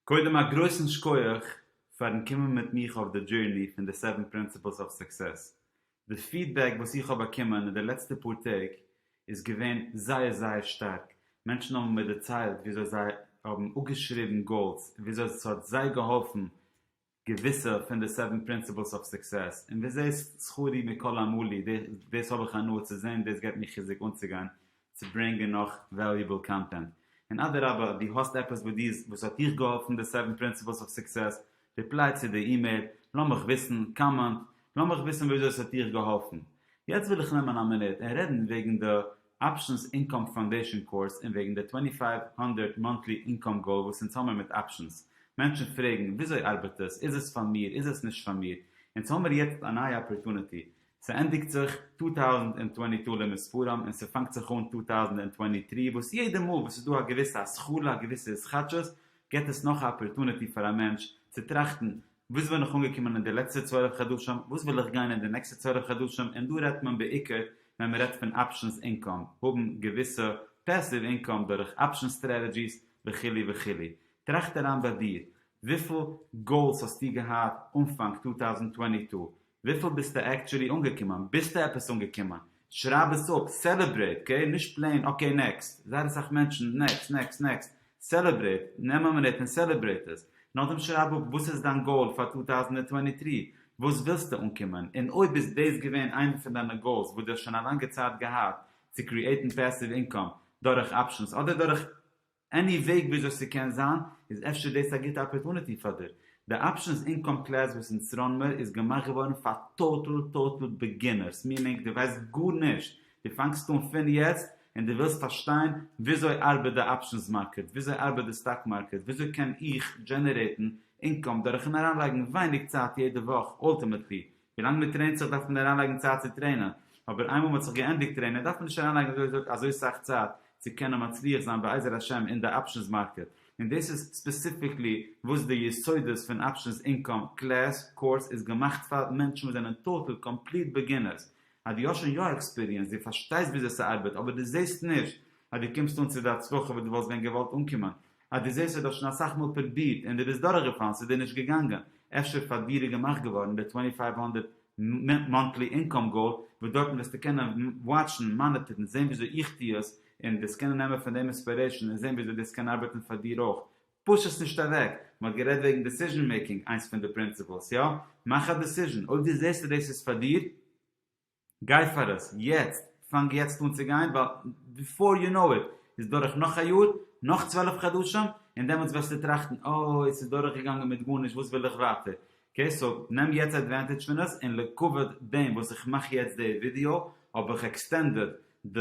קודם א גרויסן שקויעך פארן קומען מיט מיך אויף די דזשערני פון די סעווען פרינסיפלס אוו סוקסעס, די פידבעק וואס איך האב באקומען אין די לעצטע פאר טעג איז געווען זייער זייער שטארק, מענטשן האבן מיר דערציילט וויאזוי זיי האבן אפגעשריבן גאולס וויאזוי ס'האט זיי געהאלפן געוויסע פון די סעווען פרינסיפלס אויף סוקסעס, און וזה שכרי מכל עמלי, דאס האב איך הנאה צו זען, דאס געבט מיר חיזוק אנצוגיין צו ברענגען נאך וועליעבל קאנטענט. און אדרבה, דו האסט עפעס וואס דו וואס האט דיך געהאלפן די סעווען פרינסיפלס אויף סוקסעס, ריפליי צו די אימעיל, לאמיך וויסן, קאמענט, לאמיך וויסן וויאזוי עס האט דיך געהאלפן. יעצט וויל איך נעמען א מינוט און רעדן וועגן די. אפשענס אינקאם פאנדעישאן קורס און וועגן די טווענטי פייוו הונדרעט מאנטלי אינקאם גאול וואס אונז האמיר מיט אפשענס. מענטשן פרעגן, וויאזוי ארבעט עס? איז עס פאר מיר? איז עס נישט פאר מיר? אונז האמיר יעצט א נייע אפערטוניטי. ס'ענדיגט זיך טו טאוזנט און טווענטי טו למספרם און ס'פאנגט זיך אן טו טאוזנט און טווענטי טרי וואס יעדע מאל וואס ס'איז דא א געוויסע השכלה א געוויסע התחדשות געט עס נאך א אפערטוניטי פאר א מענטש צו טראכטן וואס בין איך אנגעקומען אין די לעצטע צוועלף חדשים, וואס וויל איך גיין אין די נעקסטע צוועלף חדשים, און דא רעדט מען בעיקר ווען מ'רעדט פון אפשענס אינקאם, האבן געוויסע פעסיוו אינקאם דורך אפשען סטרעטעדזשיס וכו' וכו'. טראכט אריין ביי דיר, וויפיל גאולס האסטו געהאט אנפאנג צוויי טויזנט צוואַנציק, וויפיל ביסטו עקטשולי אנגעקומען? ביסטו עפעס אנגעקומען? שרייב עס אפ, סעלעברעיט, אקעי? נישט פלעין אקעי נעקסט, זייער אסאך מענטשן, נעקסט, נעקסט, נעקסט, סעלעברעיט, נעם א מינוט און סעלעברעיט עס, נאכדעם שרייב אפ וואס איז דיין גאול פאר טו טאוזענט און טווענטי טרי, וואס ווילסטו אנקומען, און אויב איז דאס געווען איינע פון דיינע גאולס וואס דו האסט שוין א לאנגע צייט געהאט, צו קריעיטן פעסיוו אינקאם דורך אפשענס אדער דורך. עני וועג וויאזוי ס'קען זיין? איז אפשר דאס א גוטע אפערטוניטי פאר דיר? די אפשענס אינקאם קלעס וואס אין סארנמער איז געמאכט געווארן פאר טאטעל טאטעל ביגינערס מינינג די ווייסט גארנישט די פאנגסט אן פין יעצט אין די ווילסט פארשטיין וויאזוי ארבעט די אפשענס מארקעט וויאזוי ארבעט די סטאק מארקעט וויאזוי קען איך דזשענערעטן אינקאם דורכן אריינלייגן ווייניג צייט יעדע וואך אלטימעטלי ווילאנג מען טרעינט זיך דארף מען אריינלייגן צייט צו טרעינען, אבער איינמאל מען האט זיך געענדיגט טרעינען דארף מען נישט אריינלייגן אזוי אזוי אזוי סאך צייט צו קענען מצליח זיין בעזר השם אין די אפשענס מארקעט, און דאס איז ספעסיפיקלי וואס די יסודות פון אפשענס אינקאם קלעס קורס איז געמאכט פאר, מענטשן וואס זענען טאטעל קאמפליט בעגינערס, אז דו האסט שוין יא עקספיריענס, דו פארשטייסט וויאזוי ס'ארבעט אבער דו זעסט נישט אז דו קומסט אן צו די הצלחה וואס דו וואלסט ווען געוואלט אנקומען, אז דו זעסט אז דו האסט שוין אסאך מאל פרובירט און דו ביסט דורכגעפאלן, ס'איז דיר נישט געגאנגען, אפשר פאר דיר איז געמאכט געווארן די טווענטי פייוו הונדערט מאנטלי אינקאם גאול, וואס דארטן וועסטו קענען וואטשן, מאניטערן, זען וויאזוי איך טו עס, און דאס קענען נעמען פון דעם אינספירעישאן און זען וויאזוי דאס קען ארבעטן פאר דיר אויך. פוש עס נישט אוועק. מ'האט גערעדט וועגן דעסיזשן מעיקינג, איינס פון די פרינציפלס, יא, מאך א דעסיזשן, אויב דו זעסט אז דאס איז פאר דיר, גיי פאר עס יעצט, פאנג יעצט אן צו גיין, ווייל ביפאר יו נאו איט איז דורך נאך א יאר, נאך צוועלף חדשים, און דעמאלטס וועסטו טראכטן אוי ס'איז דורך געגאנגען מיט גארנישט וואס וויל איך ווייטער, אקעי סאו נעם יעצט עדווענטעדזש פון עס, און לכבוד דעם וואס איך מאך יעצט די ווידיאו האב איך עקסטענדעד די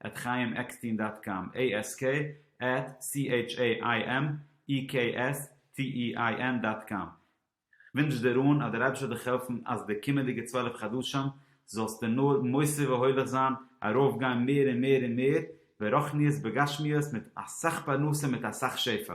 עט חיים עקסטין דאט קאם, עי עס קעי עט סי עיטש עי איי עם אי קעי עס טי אי איי ען דאט קאם, כ'ווינטש דיר אן אז דער אייבישטער זאל דיך העלפן אז די קומענדיגע צוועלף חדשים זאלסטו נאר מוסיף והולך זיין, ארויף גיין מער און מער און מער ברחניות בגשמיות מיט אסאך פרנסה מיט אסאך שפע.